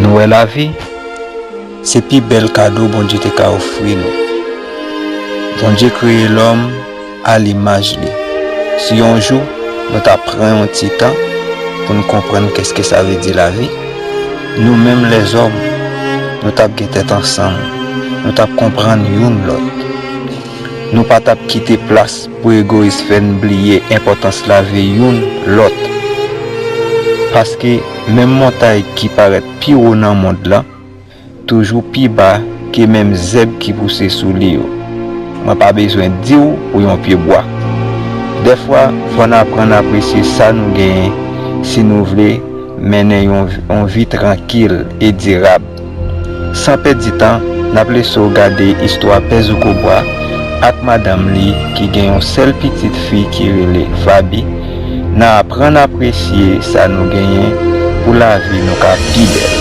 Nou wè lavi se pi bèl kado Bondye te ka ofri nou. Bondye kreye lòm a limaj li. Si yon jou nou ta pran yon ti tan pou n konprann kèske sa vle di lavi, nou menm lèzòm nou t ap gen tèt ansanm, nou t ap konprann youn lòt. Nou pa t ap kite plas pou egoyis fè n bliye enpòtans lavi youn lòt. Paske, menm montay ki parèt pi wo nan mond lan, toujou pi ba ke menm zèb ki pouse sou li yo. Mwen pa bezwen di w pou yon pye bwa. Dèfwa, fò n aprann apresye sa nou genyen si nou vle mennen yon vi trankil e dirab. San pèdi tan, n ap lese w gade istwa Pè Zoukobwa ak madanm li ki gen yon sèl pitit fi ki rele Fabi nan Aprann apresye sa nou genyen pou lavi nou ka pi bèl.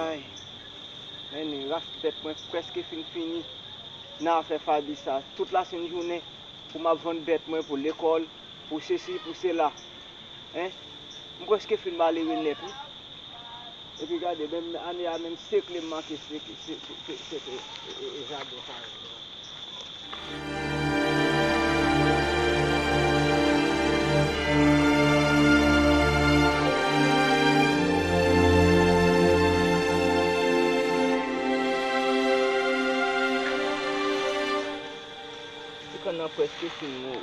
Ayy Mène ras bèt mwen prèske fin fini nan afè Faby sa tout la sen jounen pou map vann bèt mwen pou lekòl pou sesi pou sela hein m prèske fin malere nèt wi. Epi gade menm ane a menm sekle m manke sete jaden sa yo menm. Ti kann nan preske fin mou.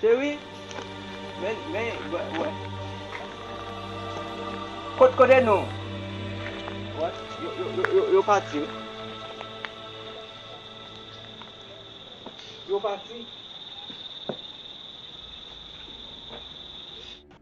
Cherie men men wè Kot kote nou What yo yo pati wi Yo pati.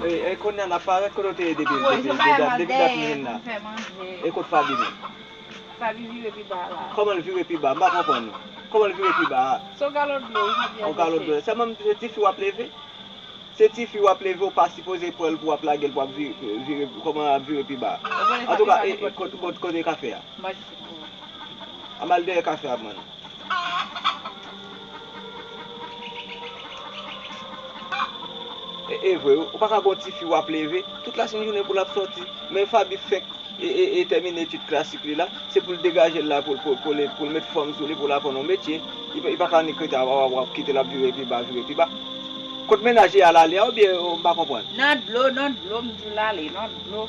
E kounya nap pa ret kote ou te ye depi dat nou vin la e kot faby menm faby vire pi ba la koman l vire pi ba m pa konprann ou koman l vire pi ba a se yon galon dlo wi faby ap vese sa menm se tifi wap leve se tifi wap leve ou pa sipoze pranl pou wap lagel pou ap vire koman ap vire pi ba antouka e kote kafe a a m al dèyè kafe a m bann. E vre wi, ou pa ka gen yon ti fi wap leve tout la sen jounen pou lap soti. Men Faby fenk e tèmine etid klasik li la, se pou l degaje l la pou l met fòm sou li pou l aprann yon metye. Li pa ka annik rete a wap kite l ap vire pi ba, vire pi ba. Kot mennaj li a lale a oubyen m pa konprann. Nan dlo, nan dlo m di w lale, nan dlo.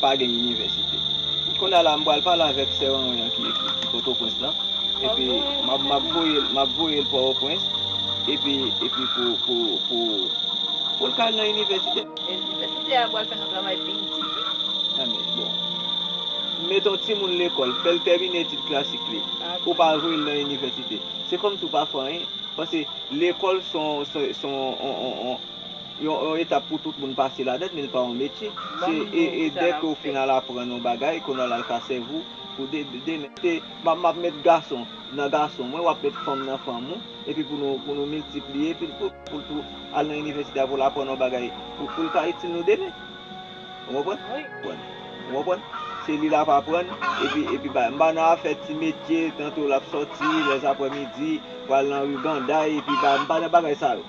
pa gen inivèsite. Kounye a la m pral pale avèk sè Wanwen an ki Pòtoprens lan, epi m ap voye m ap voye l Pòtoprens, epi epi pou pou pou pou l ka al nan inivèsite. Inivèsite a pral fè nou travay pi itil wi. Anmwey bon. Mete yon timoun lekòl, fè l tèmine etid klasik li, ou pa voye l nan inivèsite. Se kòmsi ou pa fè anyen. Pase lekòl se yon se yon on on on. Yon etap pou tout moun pase ladann men li pa yon metye. Se e dè ke w fin al aprann yon bagay ke w nan al ka sèvi w pou demen. Se m ap met gason nan gason mwen, w ap met fanm nan fanm ou epi pou nou pou nou miltipliye epi pou l tou al nan inivèsite a pou l aprann yon bagay pou l ka itil nou demen. Ou konprann? Ou konprann? Se li l ap aprann epi epi bagay. M pa nan afè ti metye tanto l ap sòti lèzaprèmidi pou al nan ri Ganday epi bagay. M pa nan bagay sa yo.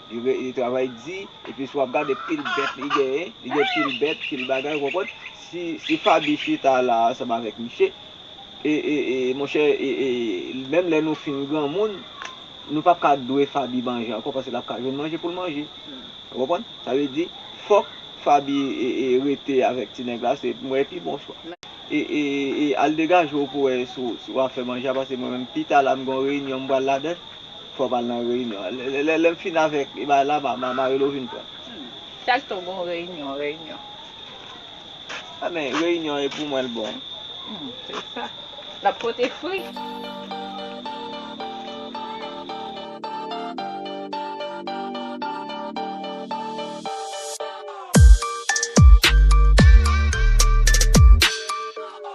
li travay di, epi si wap gade pil bèt li genyen, li gen pil bèt, pil bagay, ou konprann, si Faby chita la ansanm avèk misye, e, e, e, monchè, e, e, menm lè nou fin granmoun, nou pap ka dwe Faby manje ankò paske lap ka jwenn manje poul manje, ou konprann, sa vle di, fòk Faby e, e, rete avèk ti nèg la, se, m wè pi bon chwa. E, e, e, al degaje w pou wè si wap fè manje a paske mwen menm pita la m gen yon reyinyon m pral ladann. Fò pral nan reyinyon an. Lèm fin avèk bagay la ma marelo vin pranm. Chak jou gon reyinyon reyinyon. A men reyinyon e pou mwen l bon. Se sa. Lap pote fri.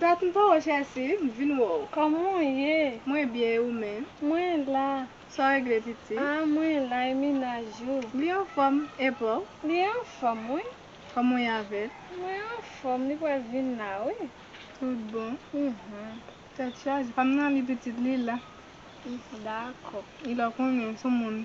Dat m pa wè Chelsea, m vin wè w. Kòman w ye? Mwen byen e ou menm? Mwen la. Sa w regle piti? Ah mwen la e minaj ou? Li anfòm, e pa w? Li anfòm wi. Kòman w ye avè l? Mwen anfòm, li pral vin la wi. Tout bon? Uhmm. Tèt chaje, pa m nan li pitit li la. Dako. Li la w konnen, son moun.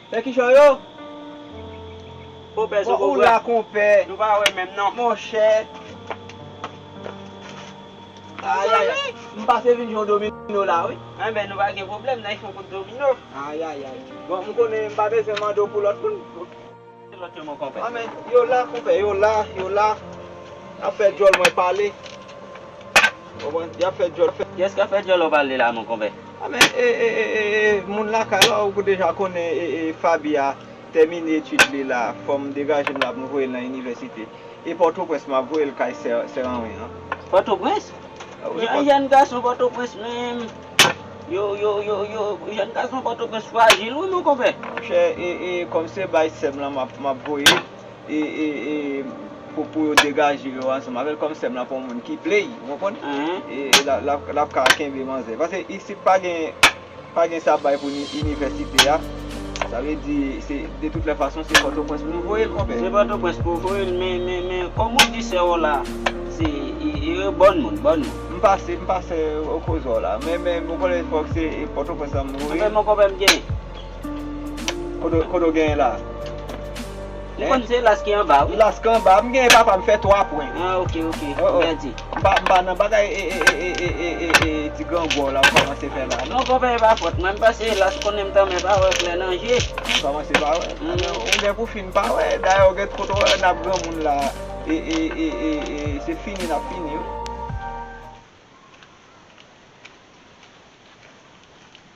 Fè kichòy oo Konpè Zobo bra Nou pa wè menm non Monchè Ayayay M pase vin jwe domino la wi Enben nou pa gen pwoblèm nan yon kout domino Ayayay Bon m konnen m pa bezwen mande w pou lòt moun Ki lòt yo mon konpè Anmè yo la konpè yo la Yo la N ap fè djòl mwen pale. Konprann yap fè dyòl fè. Kiyès kap fè dyòl wap ale la mon konpè. A men e e e e e moun lakay la ou deja konnen e e Faby a tèmine etid li la fòm degajem la poum voyel nan inivèsite e pòtoprens map voyel kay sè sè anwen an. Pòtoprens? Jan jèn gason pòtoprens menm yo yo yo yo jèn gason pòtoprens frajil wi mon konpè. Monchè e e kòm se bay sèm lan map map voye. pou yo degaje yo ansanm avèl kòm sèm lan pa yon moun ki play ou konprann lap ka kenbe manzè paske isit pa gen sa bay pou inivèsite a sa vle di de tout lè fason se pòtoprens pou nou voyel konpè se pòtoprens pou voyel men kòm ou di sè ou la se bon moun bon moun m pa sè m pa sè kozò la men m konnen fòk se pòtoprens pou m voyel anfen m konpè m gen Kote w genyen la? M konn se las ki anba wi. Las ki anba. M genyen papa m fè 3 pwen. Ah ok ok. Mèdi. M pa nan bagay ee ti grangou w la ou kòmanse fè la. Non konpè e pa fòt mwen. M pase las konnen m tanmen pa wè klè nan je. Ou kòmanse pa wè. Ou gen pou fin pa wè. Dayè ou gen kote w wè n ap granmoun la ee se fini n ap fini wi.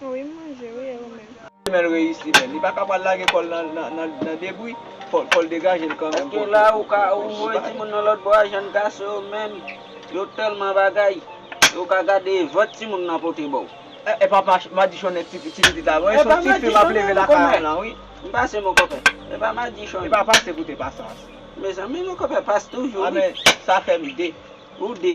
Wi m manje wi e ou menm. Fimèl reyisi menn. Li paka pral lage kòl nan debri, fòl degajel kanmenm poto. Eske la ou ka ouvre timoun nan lòt bò a jèn gason yo menm yo tèlman bagay yo ka gade vant timoun nan pote baw. Epa madichonnen ti pitit la non e son ti fi map leve lakay an lan wi. M pase mon kòpè. Epa madichon. Epa pase pou te pasans. Mezanmi mon kòpè pase toujou wi. Sa fèm de. Ou de.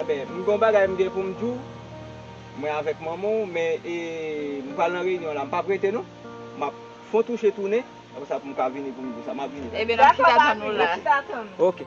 Amen m gon bagay m gen poum diw mwen avèk manman w men e m pral nan reyinyon la m pap rete non map fon touche tounen aprè sa poum ka vini poum diw sa map vini Eben nap chita tann ou la. Ok.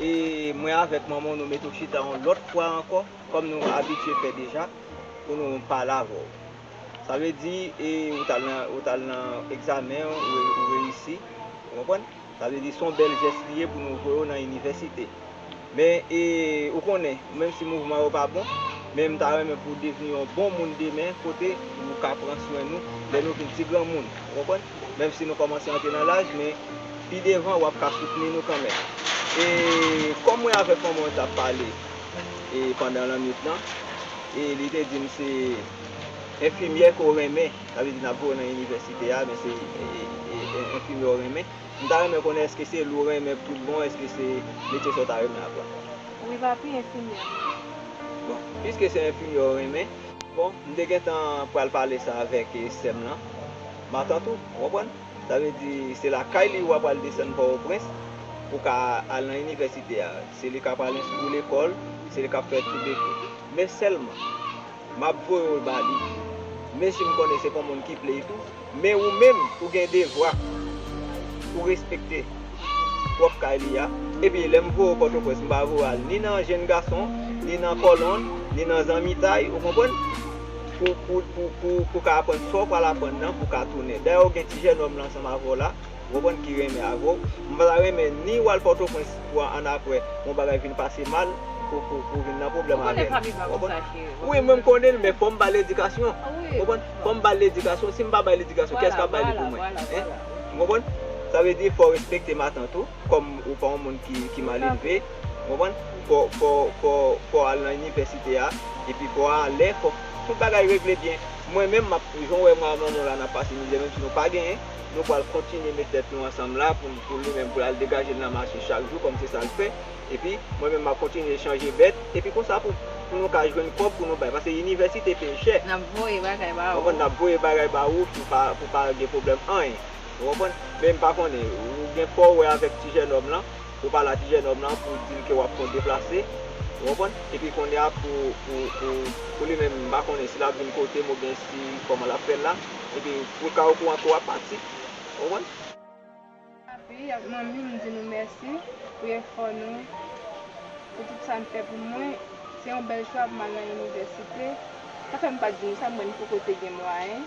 e mwen avèk manman w nou mete w chita yon lòt fwa ankò, kòm nou abitye fè deja, pou nou pale avè w. Sa vle di, e ou t al nan, ou t al nan egzamen an, ou reyisi. Ou konprann? Sa vle di, s on bèl jès li ye pou nou voye w nan inivèsite. Men, e ou konnen, menm si mouvman yo pa bon, men m ta renmen pou w devni yon bon moun demen, kote ou ka pran swen nou, lè nou vin ti granmoun. Ou konprann? menm si nou kòmanse antre nan laj men pi devan wap ka soutni nou kanmenm e kòm mwen avèk manman w tap pale e pandan lannwit lan e li te di m se enfimyè ke w renmen sa vle di nap voye w nan inivèsite a men se enfimyè w renmen m ta renmen konnen èske se li w renmen pou tout bon èske se metye sa w ta renmen aprann wi papi enfimyè m renmen bon piske se enfimyè w renmen bon m te gentan pral pale sa avèk sè m lan. Matant ou, ou konprann? Sa vle di, se lakay li ou a pral desann Pòtoprens pou w ka al nan inivèsite a. Se li k ap al enstwi lekòl, se li k ap fè tout deki. Men sèlman, m ap voye w ba li, menm si m konnen se pa w moun ki play tou, men ou menm, ou gen devwa pou w respekte pwòp kay li a. Epi, lè m voye w Pòtoprens, m pa voye w al ni nan jenn gason, ni nan kòlonn, ni nan zanmitay, ou konprann? Pou ou ka aprann sa w pral aprann nan, pou w ka tounen. Dayè ou gen ti jènòm lan ansanm avè w la, ou konprann, ki renmen avè w. Mwen pa ta renmen ni w al Pòtoprens pou annapre yon bagay vin pase mal, pou ou vin nan pwoblèm avè l. Ou konnen papi m pa konn sa cheri. Wi, mwen m konnen l, men fò m ba l edikasyon. Ou konprann? Fò m ba l ledikasyon. Si m pa ba l ledikasyon, kiyès k ap ba li pou mwen? Hein? Ou konprann? Sa vle di fò w respekte matant ou. Kòm ou pa yon moun ki malelve, ou konprann, fò w al nan inivèsite a, epi fò w alè, fò tout bagay regle byen. Mwen menm, jan w wè mwen ak manman w la n ap pase mizè, menm si nou pa genyen, nou pral kontinye met tèt nou ansanm la pou li menm, pou l al degaje l nan mache chak jou kòm se sa l fè. Epi, mwen menm m ap kontinye chanje bèt, epi konsa pou nou ka jwenn kòb pou nou bay. Paske inivèsite peye chè. N ap voye bagay ba ou. Ou konprann, n ap voye bagay ba ou pou pa gen pwoblèm anyen. Ou konprann? Men m pa konnen, ou gen fò ou wè avèk ti jènòm lan, ou pale a ti jènòm lan pou w di l ke w ap konn deplase, ou konprann, epi kounye a pou, pou, pou, pou li menm, m pa konnen si l ap vin kote m oubyen si kòman l ap fè l la, epi pou l ka okouran ke w ap pati. Ou konprann? Papi ak Manmi, m di nou mèsi pou efò nou, pou tout sa n fè pou mwen. Se yon bèl chwa pou m al nan inivèsite. Sa fè m pa di nou sa, mwen m poko te gen mwayen.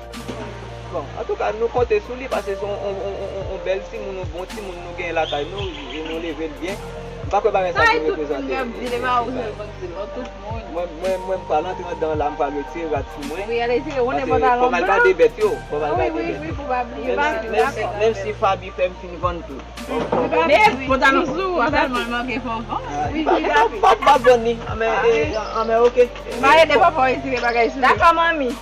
Bon antouka nou konte sou li pase se yon bèl timoun, yon bon timoun nou genyen lakay nou e nou leve l byen. M pa kwè bagay sa vin reprezante yon bagay. Mwen pral antre anndan la, m pral retire rad sou mwen. Pase fò m al gade bèt yo. Menm si Faby fè m fin vann tout. Faby pap vann li. Anmè ok.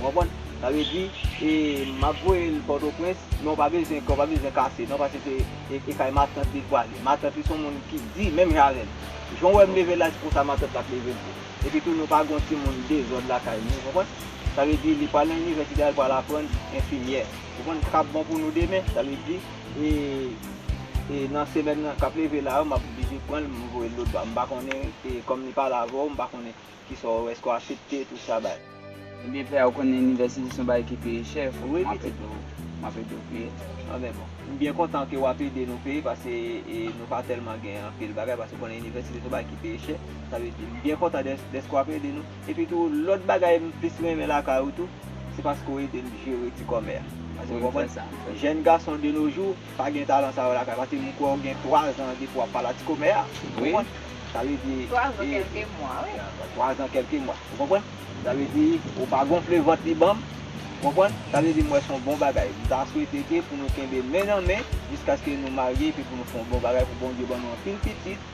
Ou konprann? Sa vle di, e m ap voye l Pòtoprens, men ou pa bezwen kè w pa bezwen kase non pase se e kay matant li pwale. Matant li s on moun ki di menm jan avè m. Jan w wè m leve l la se konsa matant l ap leve l tou. Epitou nou pa gen yon timoun dezòd lakay nou, ou konprann? Sa vle di li pral nan inivèsite a l pral aprann enfimyè. Ou konprann? Sa ka bon pou nou demen. Sa vle di, e e nan semèn nan k ap leve la yo m ap oblije pran l m voye l lòtbò. M pa konnen e kòm li pale avè w m pa konnen. Kisa ou eske ou asepte tout sa bay. Ebyen pè a ou konnen inivèsite son bagay ki peye chè fok mwen ap ede ou map ede ou peye ok bon. M byen kontan ke wap ede nou peye pase nou pa telman gen anpil bagay pase ou konnen inivèsite son bagay ki peye chè sa vle di m byen kontan deske wap ede nou epi tou lot bagay m plis renmen lakay ou tou se paske ou ede m jere ti kòmè a paske ou konprann jèn gason de no jou Pa gen talan sa yo lakay paske m kwè w gen 3 zan depi w ap pale a ti komè a ou konprann sa vle di 3 zan kèlke mwa wi 3 zan kèlke mwa ou konprann sa vle di ou pa gonfle vant li banm ou konprann sa vle di m wè son bon bagay m ta swete ke pou nou kenbe men nan men jiskaske nou marye epi pou nou fon bon bagay pou Bondye ban nou anpil pitit.